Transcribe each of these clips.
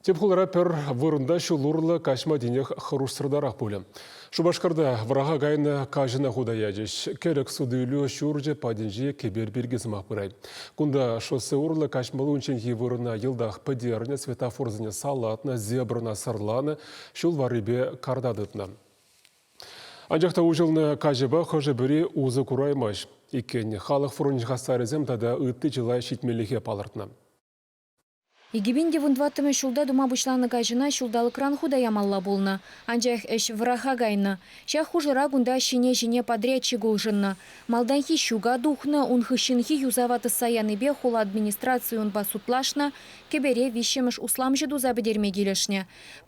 Тӗп хулара пӗр вырӑнта ҫул урлӑ каҫма тинех хӑрушсӑртарах пулӗ. Шупашкарта вӑраха кайнӑ каҫӑна хута ячӗҫ. Кӗрӗк суту-илӳ ҫурчӗ патӗнче кӗпер пирки сӑмах пырать. Кунта шоссе урлӑ каҫмалли унчченхи вырӑна йӑлтах пӗтернӗ, светофорсене салатнӑ, зебрӑна сӑрланӑ, ҫул варрипе карта тытнӑ. Анчах та уҫӑлнӑ каҫӑпа хӑшӗ-пӗри усӑ кураймасть иккен. Халӑх фрончӗн хастарӗсем тата ытти чылай ҫитмеллӗхе палӑртнӑ. Икӗ пин те вунтӑваттӑмӗш ҫулта тума пуҫланӑ каҫӑна ҫулталӑкран хута ямалла пулнӑ. Анчах ӗҫ вӑраха кайнӑ. Ҫак хушӑра кунта ҫине-ҫине подрядчик улшӑннӑ. Малтанхи ҫука тухнӑ, ун хыҫҫӑнхи юсава тӑсса янипе хула администрацийӗ унпа судлашнӑ, кӗпере виҫҫӗмӗш усламҫӑ туса пӗтерме килӗшнӗ.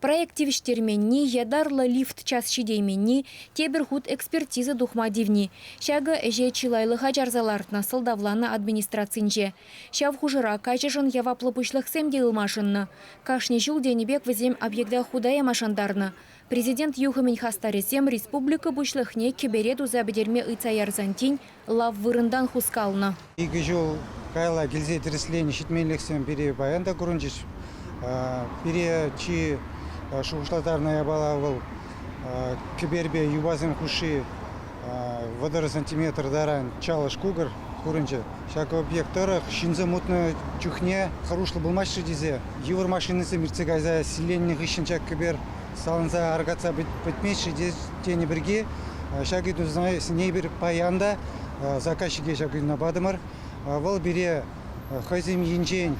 Проект тивӗҫтерменни, ятарлӑ лифт час ҫитейменни, тепӗр хут экспертиза тухма тивни, ҫакӑ ӗҫе чылайлӑха чарса лартнӑ, сӑлтавланӑ администрацинче. Ҫав хушӑра каччӑшӑн яваплӑ пуҫлӑхсем те ылмашӑннӑ. Кашни ҫул тенӗ пек вӗсем объекта хута яма шантарнӑ. Президент юхӑмӗн хастарӗсем республика Пуҫлӑхне кӗпере туса пӗтерме ыйтса ярсан тин лав вырӑнтан хускалнӑ. Икӗ ҫул каялла килсе тӗрӗсленӗ ҫитменлӗхсем пире паян та курӑнчӗҫ. Пире чи шухӑшлаттарнӑ япала вӑл, кӗперпе юпасем хушши Вӑтӑр сантиметр таран чалӑш-кукӑр курӑнчӗ. Ҫак объект тӑрӑх ҫынсем утнӑ чухне хӑрушлӑ пулмасть-ши тесе йывӑр машинӑсем иртсе кайса силленнӗ хыҫҫӑн ҫак кӗпер саланса аркатса пӗтмест-ши тенӗ пирки ҫак ыйтусене эпир паян та заказчике ҫак ыйтуна патӑмӑр. Вӑл пире хӑйсем енчен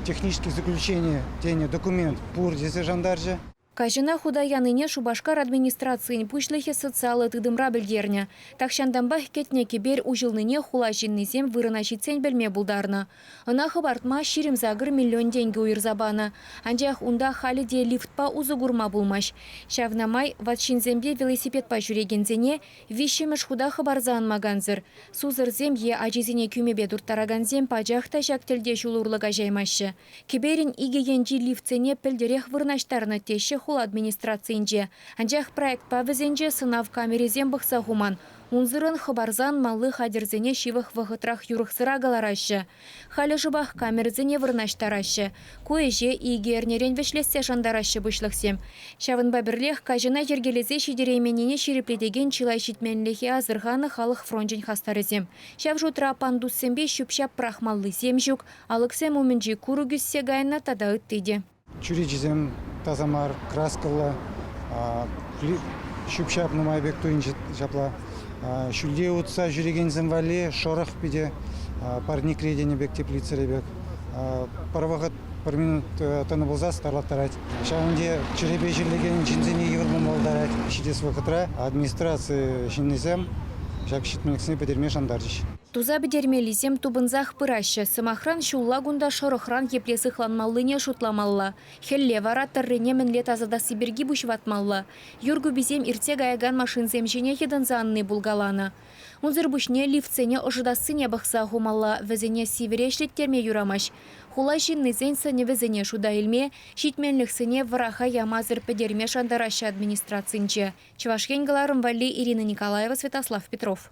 технические заключения тенӗ документ пур тесе шантарчӗ. Каҫӑна хута янине Шупашкар администрацийӗн пуҫлӑхӗ социаллӑ тытӑмра пӗлтернӗ. Тахҫантанпах кӗтнӗ кӗпер уҫӑлнине хула ҫыннисем вырӑна ҫитсен пӗлме пултарнӑ. Ӑна хӑпартма ҫирӗм-сакӑр миллион тенкӗ уйӑрса панӑ, анчах унта халӗ те лифтпа усӑ курма пулмасть. Ҫавна май ват ҫынсемпе велосипедпа ҫӳрекенсене виҫҫӗмӗш хута хӑпарса анмакансӑр, сусӑрсем е ачисене кӳмепе турттаракансем пачах та ҫак тӗлте ҫул урлӑ каҫаймаҫҫӗ. Кӗперӗн икӗ енчи лифтсене пӗлтӗрех вырнаҫтарнӑ теҫҫӗ хула администрацийӗнче. Анчах проектпа вӗсенче сӑнав камерисем пӑхса хуман. Унсӑрӑн хӑпарсан малли хатӗрсене ҫывӑх вӑхӑтрах юрӑхсӑра кӑлараҫҫӗ. Халӗ шӑпах камерӑсене вырнаҫтараҫҫӗ. Ку ӗҫе икӗ эрнерен вӗҫлессе шантараҫҫӗ пуҫлӑхсем. Ҫавӑнпа пӗрлех каҫӑна йӗркелесе ҫитерейменнине ҫирӗплетекен чылай ҫитменлӗхе асӑрханӑ халӑх фрончӗн хастарӗсем. Ҫав шутра пандуссемпе ҫӳп-ҫап пӑрахмаллисем ҫук, Алӑксем умӗнчи курӑк ӳссе кайнӑ тата ытти те. Чӳречисем таса мар, краскӑллӑ, ҫӳп-ҫап нумай пек туйӑнчӗ ҫапла. Ҫӳлте утса ҫӳрекенсем валли шӑрӑх питӗ, парникре тенӗ пек, теплицӑри пек. Пӗр вӑхӑт, пӗр минут тӑнӑ пулса старлаттарать. Ҫавӑн те чӗрепе чирлекен ҫынсене йывӑр пулма пултарать. Ҫитес вӑхӑтра администраци ҫыннисем ҫак ҫитменлӗхсене пӗтерме шантарчӗҫ. Туса пӗтермеллисем тупӑнсах пыраҫҫӗ. Сӑмахран, ҫулла кунта шӑрӑхран епле сыхланмаллине шутламалла. Хӗлле вара тӑррине мӗнле тасатасси пирки пуҫ ватмалла. Юр куписем иртсе каякан машинсем ҫине йӑтӑнса анни пулкаланӑ. Унсӑр пуҫне лифтсене ӑшӑтассине пӑхса хумалла, вӗсене сивӗре ӗҫлеттерме юрамасть. Хула ҫыннисен сӗнӗвӗсене шута илме, ҫитменлӗхсене вӑраха ямасӑр пӗтерме шантараҫҫӗ администрацинче, Чӑваш Ен кӑларӑм валли Ирина Николаева, Святослав Петров.